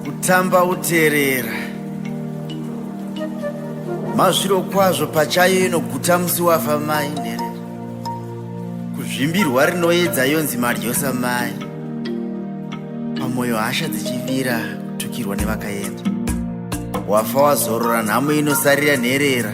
kutamba uterera mazviro kwazvo pachayo inoguta musi wafa mai nherera kuzvimbirwa rinoedza yonzi madyosa mai pamwoyo hasha dzichivira kutukirwa nevakaenda wafa wazorora nhamo inosarira nherera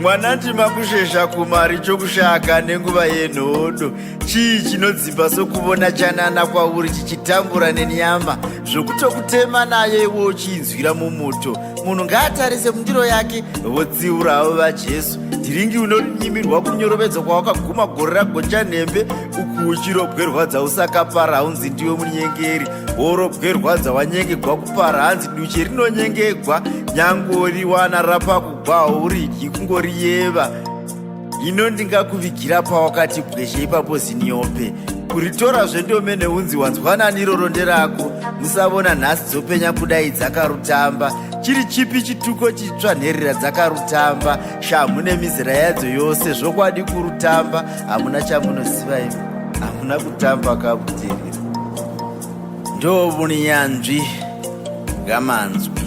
mwana ndima kushesha kumari chokushaka nenguva yenhodo chii chinodzimba sokuvona chanana kwauri chichitambura nenyama zvokutokutema nayo iwe uchiinzwira mumuto munhu ngaatarise mundiro yake votsiura havo vajesu dhiringi unonyimirwa kunyorovedzwa kwawakaguma gore ragonja nhembe uku uchirobwerwadza usakapara haunzi ndiwe munyengeri worobwerwadza wanyengegwa kupara hanzi duche rinonyengegwa nyangoriwana rapaku kwahuridyi kungoriyeva ino ndingakuvigira pawakati bwezhe ipapo ziniope kuritora zvendomene unzi wanzwanani iroro nderako musavona nhasi dzopenya kudai dzakarutamba chiri chipi chituko chitsva nherera dzakarutamba shamhu nemizera yadzo yose zvokwadi kurutamba hamuna chamunoziva imi hamuna kutamba kabudirira ndovunyanzvi ngamanzwi